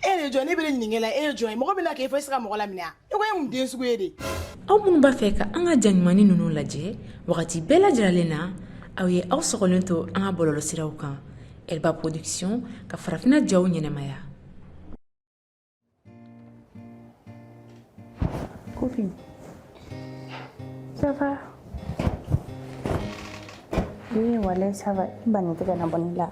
e de jɔn ne bɛ e ɲininka la e ye jɔn ye mɔgɔ bɛna k'e fo e se ka mɔgɔ laminɛ a e ko e mun den sugu ye de aw minnu b'a fɛ ka an ka ja ɲumannin ninnu lajɛ wagati bɛɛ lajɛlen na aw ye aw sɔgɔlen to an ka bɔlɔlɔsiraw kan elba production ka farafina jaw ɲɛnamaya copine ça va oui walayi ça va i bani tɛ ka na bɔ ne la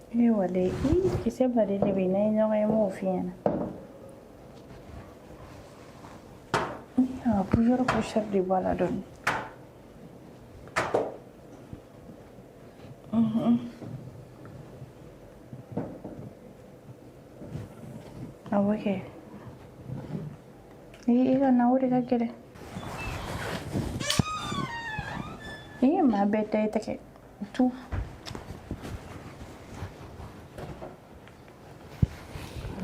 Ee walayi kisɛba de bɛ n'an ye ɲɔgɔn ye n b'o f'i ɲɛna a plusieurs couches de b'a la dɔɔni awɔ kɛ ee i ka na o de ka gɛlɛn i ye maa bɛɛ da i tɛgɛ Tu.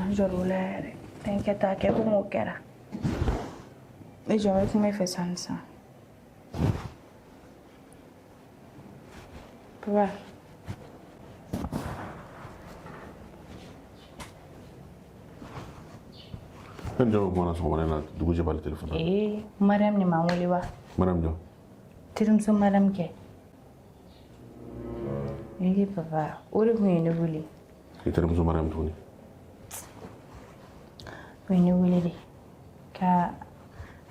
N jɔr'o la yɛrɛ fɛn kɛta kɛ komi o kɛra e jɔn bɛ kuma e fɛ sisan papa E ni jɔn bɛ kuma na sɔgɔmada in na dugu jɛbali telefɔni na. Ee Mariam de ma n wele wa? Mariam jɔn? Terimuso Mariam kɛ. Ee papa o de tun ye ne wele n terimuso mariyamu tuguni o ye ne wele de k'an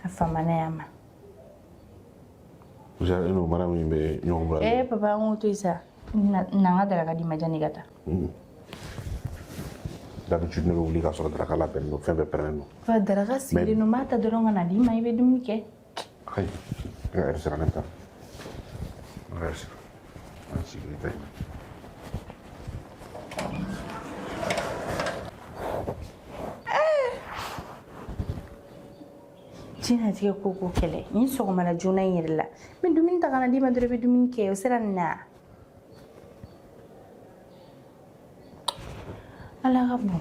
famana ɲɔgɔn ma jaa e n'o mariyamu in bɛ ɲɔgɔn bolo ee papa an k'o to yen sa na n ka daraka di n ma janni n ka taa d'habitude ne bɛ wuli k'a sɔrɔ daraka labɛnnen don fɛn bɛɛ pɛrɛlen don papa daraka sigilen don n b'a ta dɔrɔn ka na d'i ma i bɛ dumuni kɛ Ayi. diɲɛnatigɛ ko ko kɛlɛ n ye sɔgɔmada joona in yɛrɛ la n bɛ dumuni ta ka na d'i ma dɔrɔn i bɛ dumuni kɛ o sera nin na ala ka bon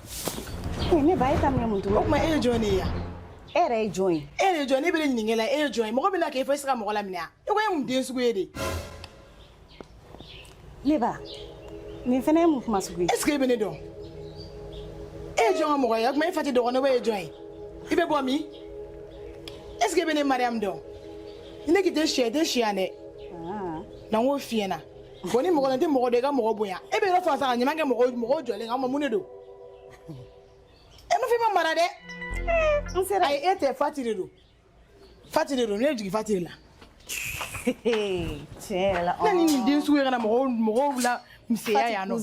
Ne ba e ka minɛ mun tun o tuma e ye jɔn ye yan e yɛrɛ ye jɔn ye e ye jɔn ne bɛ e ɲininka la e ye jɔn ye mɔgɔ bɛna k'e fo e se ka mɔgɔ laminɛ yan e ko e mun den sugu ye de ne ba nin fana ye mun kuma sugu ye est ce que e bɛ ne dɔn e ye jɔn ka mɔgɔ ye o tuma e fa tɛ dɔgɔnin e ye jɔn ye i bɛ bɔ min est ce que e bɛ ne mariyamu dɔn ne k'i tɛ se tɛ se yan dɛ na n k'o f'i ɲɛna bɔn ni mɔgɔ la tɛ mɔgɔ dɔ i ka mɔgɔ bonya e bɛ yɔrɔ fa sa ka ɲuman kɛ mɔgɔ mɔgɔ jɔlen kan o ma mun de don i n'a fɔ i ma mara dɛ n sera ayi e tɛ fati de don fati de don ne jigin fati de la tiɲɛ yɛrɛ la na ni nin den sugu ye ka na mɔgɔw mɔgɔw lamisɛnya yan nɔ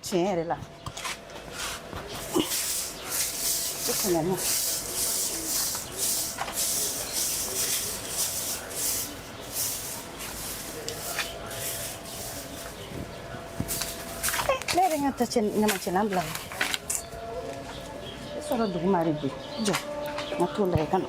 Tiɲɛ yɛrɛ la i kana na ne yɛrɛ ka ta cɛ ɲamancɛlan bila la i sɔrɔ duguma de bi jɔ n ka t'o lajɛ ka na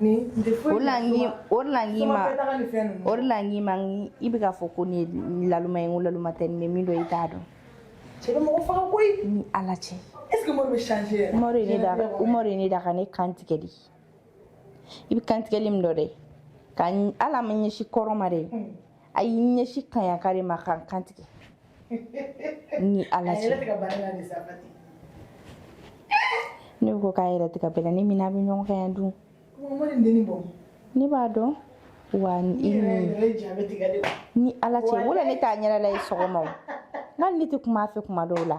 Nin tɛ foyi ɲɛ soma. O de la n k'i o de la n k'i ma. Soma fɛn daga ni fɛn ninnu. O de la n k'i ma i bɛ k'a fɔ ko ne ye laluma ye n ko laluma tɛ ne bɛ min dɔn i t'a dɔn. Cɛ bɛ mɔgɔ faga koyi. Ni Ala cɛ. Est ce que Umaru bɛ changer yɛrɛ. Umaru ye ne da Umaru ye ne da ka ne kan tigɛ de. I bɛ kantigɛli min dɔn dɛ ka hali a ma ɲɛsin kɔrɔn ma dɛ a y'i ɲɛsin kaɲaka de ma ka n kan tigɛ. ni ala cɛ ne ko k'a yɛrɛ tigɛ b'a la ni mina bɛ ɲɔgɔn kan yan dun ne b'a dɔn wa i ni ala cɛ wala ne t'a ɲɛda la ye sɔgɔma o nka ne tɛ kuma a fɛ kuma dɔw la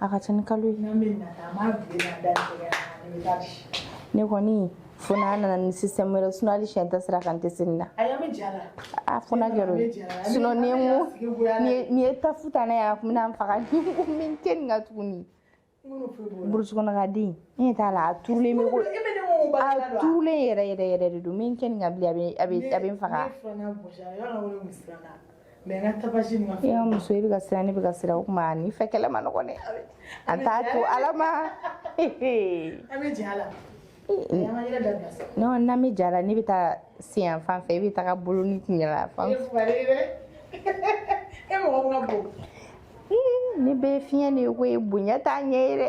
a ka ca ni kalo ye ne kɔni fo n'a nana ni système wɛrɛ sinon hali siɲɛ tan sira kan n tɛ se nin na a fo n'a kɛra o ye sinon ni ye n ko ni ye tafu ta n'a ye a tun bɛna n faga ni n ko min tɛ nin ka tuguni burusi kɔnɔ ka den n ɲɛ t'a la a turulen bɛ ko a turulen yɛrɛ yɛrɛ yɛrɛ de don min kɛ nin ka bilen a bɛ a bɛ n faga mɛ n ka tapasi ma fɔ y'a muso i bɛ ka siran ne bɛ ka siran o tuma nin fɛn kɛlɛ man nɔgɔn dɛ an t'a to ala ma an bɛ jɛ a la non n'an bɛ jɛ a la ne bɛ taa sen yan fan fɛ i bɛ taga bolo ni kun yan fan e mɔgɔ ka bon ne bɛɛ fiɲɛ de ye koyi bonya t'a ɲɛ ye dɛ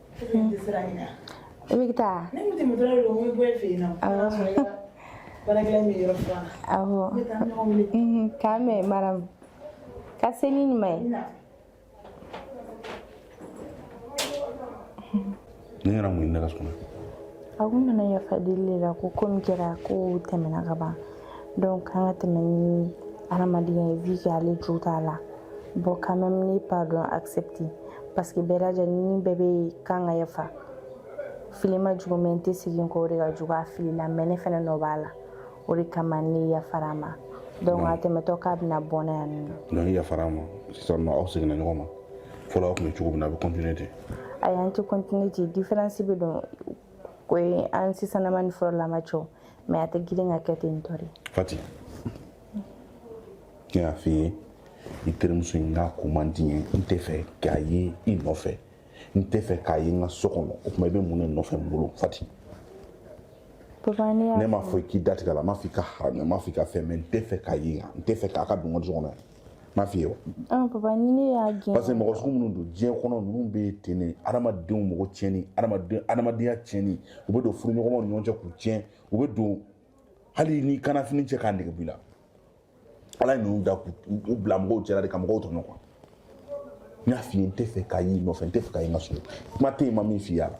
i bɛ taa k'an bɛn madame ka se ni ma ye ne yɛrɛ mun ne ka so kɔnɔ a kun nana yafa deli de la ko ko min kɛra ko tɛmɛna ka ban donc an ka tɛmɛ ni hadamadenya ye vu que ale jo t'a la bon quand même ne pardon accepter parce que bɛɛ lajɛlen bɛɛ bɛ kan ka yafa fili man jugu mais n tɛ segin kɔ o de ka jugu a filila mais ne fana nɔ b'a la o de kama ne yafara a ma donc a tɛmɛtɔ k'a bɛna bɔ ne yan nɔ donc i yafara a ma sisan nɔ aw seginna ɲɔgɔn ma fɔlɔ aw tun bɛ cogo min na a bɛ continuer ten ayi an tɛ continuer ten différence bɛ don o ye an sisanama ni fɔlɔlama cɛ mais a tɛ girin ka kɛ ten tɔ de fati ne y'a f'i ye i terimuso in k'a ko man di n ye n tɛ fɛ k'a ye i nɔfɛ n tɛ fɛ k'a ye n ka so kɔnɔ o tuma i bɛ mun de nɔfɛ n bolo fati papa ne y'a ne m'a fɔ i k'i datigɛ a la n m'a fɔ i k'a haramuya n m'a fɔ i ka fɛn mais n tɛ fɛ k'a ye yan n tɛ fɛ k'a ka don n ka so kɔnɔ yan m'a f'i ye wa ah, papa ni ne y'a gɛn parce que mɔgɔ sugu minnu don diɲɛ kɔnɔ ninnu bɛ ten de adamadenw mɔgɔ tiɲɛni adamaden adamadenya tiɲɛni u bɛ don furuɲɔgɔnmaw ni ɲɔgɔn cɛ k'u tiɲɛ u bɛ don hali i n'i kanna fini cɛ k'a nege b'i la ala ye ninnu da k'u bila mɔgɔw cɛla de ka mɔgɔw tɔɲɔ quoi n y'a f'i ye n tɛ fɛ k'a y'i nɔfɛ n tɛ fɛ k'a ye n ka so kuma tɛ yen n ma min f'i y'a la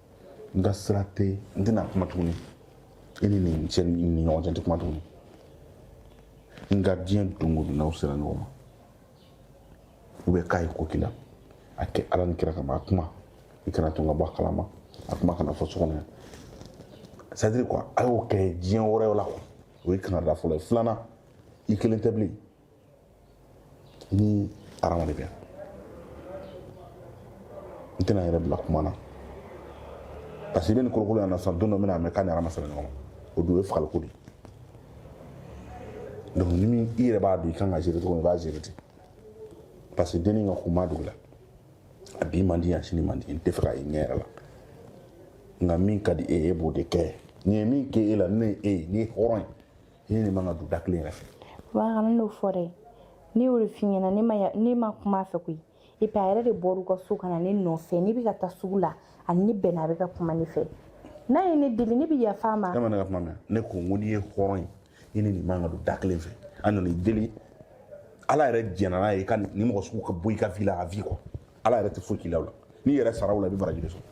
n ka sira tɛ n tɛna kuma tuguni i ni nin cɛ ni ɲɔgɔn cɛ n tɛ kuma tuguni nka diɲɛ don o don n'aw sera ɲɔgɔn ma ou bien k'a ye ko k'i la a kɛ ala ni kira kama a kuma i kana to n ka bɔ a kalama a kuma kana fɔ so kɔnɔ yan c'est à dire quoi a y'o kɛ diɲɛ wɛrɛ la quoi o ye kankarida fɔlɔ ye filanan i kelen tɛ bilen ni arama de bɛ yan n tɛna n yɛrɛ bila kuma na parce que i bɛ nin kolokolo yan na sisan don dɔ n bɛna mɛn k'a ni arama sera ɲɔgɔn ma o don o ye fagaliko de ye donc ni min i yɛrɛ b'a dɔn i kan ka gérer cogo min i b'a gérer ten parce que denni ka kun b'a dugu la a bi man di yan sini man di n tɛ fɛ k'a ye ɲɛ yɛrɛ la nka min ka di e ye e b'o de kɛ nin ye min kɛ e la ne ye e ye n'i ye hɔrɔn ye I ni nin man ka don da kelen yɛrɛ fɛ. Papa kana n'o fɔ dɛ. Ne y'o de f'i ɲɛna ne ma ya ne ma kum'a fɛ koyi et puis a yɛrɛ de bɔr'u ka so ka na ne nɔfɛ ne bi ka taa sugu la a ni ne bɛnna a bɛ ka kuma ne fɛ n'a ye ne deli ne bi yaf'a ma E ma ne ka kuma mɛn ne ko n ko n'i ye hɔrɔn ye i ni nin man ka don da kelen fɛ a nana i deli Ala yɛrɛ jɛnna n'a ye i ka nin mɔgɔ sugu ka bɔ i ka vie la à vie quoi Ala yɛrɛ tɛ foyi k'i la o la n'i yɛrɛ sara o la i bɛ baraji de sɔrɔ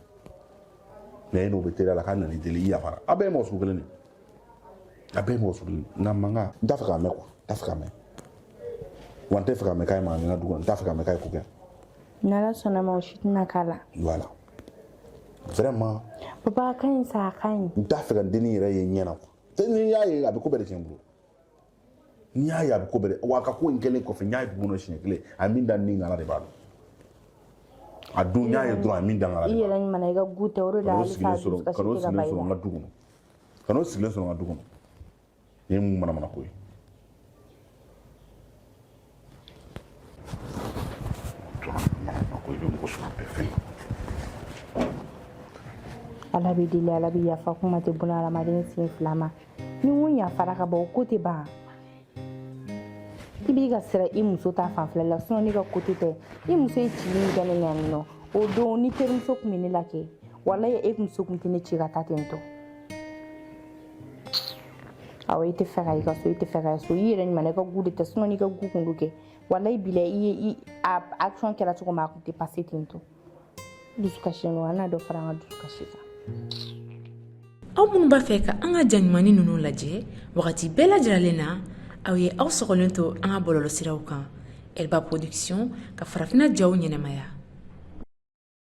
mais e n'o bɛ teriya la k'a nana i deli i yafara a' bɛɛ ye mɔgɔ sugu kelen de ye a bɛɛ ye mɔgɔ sugu kelen nka mankan n t'a fɛ k'a mɛn quoi n t'a fɛ k'a mɛn wa n tɛ fɛ k'a mɛn k'a ye mankan kɛ n ka du kɔnɔ n t'a fɛ k'a mɛn k'a ye ko kɛ n'ala sɔnna ma o si tɛna k'a la voilà vraiment papa a ka ɲi sa a ka ɲi n t'a fɛ ka denni yɛrɛ ye ɲɛ na quoi ni n y'a ye a bɛ ko bɛɛ de tiɲɛ n bolo n y'a ye a bɛ ko bɛɛ wa a ka ko in kɛlen kɔfɛ n y'a ye dugu kɔnɔ siɲɛ kelen a min da ni ngala de b'a dɔn a don n y'a ye dɔrɔn a min da ngala de b'a dɔn i yɛrɛ ɲuman i ka goût tɛ o de la hali sa dusukasi tɛ ka ban i la ka n'o sigilen sɔrɔ n ka du kɔnɔ ka n'o sigilen sɔrɔ n ka du kɔnɔ nin ye mun manamana ko ye ala bɛ deli ala bɛ yafa kuma tɛ buna hadamaden sen fila ma ni mun yafara ka bɔ o ko tɛ ban i bɛ ka siran i muso ta fanfɛla la sinon ne ka côté tɛ i muso ye cili min kɛ ne ɲɛ yan nɔ o don ni terimuso tun bɛ ne la kɛ walayi e muso tun tɛ ne ci ka taa ten tɔ awɔ i t'a fɛ ka i ka sɔn i t'a fɛ ka sɔn i yɛrɛ ɲuman i ka goût de tɛ sinon n'i ka goût kun don kɛ walayi bilayi a action kɛra cogo min a kun tɛ passer ten to dusukasi ninnu an n'a dɔ fara an ka dusukasi kan aw minnu b'a fɛ ka an ka ja ɲuman ninnu lajɛ wagati bɛɛ lajɛlen na aw ye aw sɔgɔlen to an ka bɔlɔlɔsiraw kan elba production ka farafina jaw ɲɛnamaya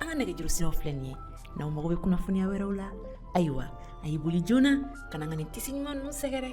an ka nɛgɛjuru siraw filɛ nin ye n'aw mago bɛ kunnafoniya wɛrɛw la ayiwa a ye boli joona ka na an ka nin tissu ɲuman ninnu sɛgɛrɛ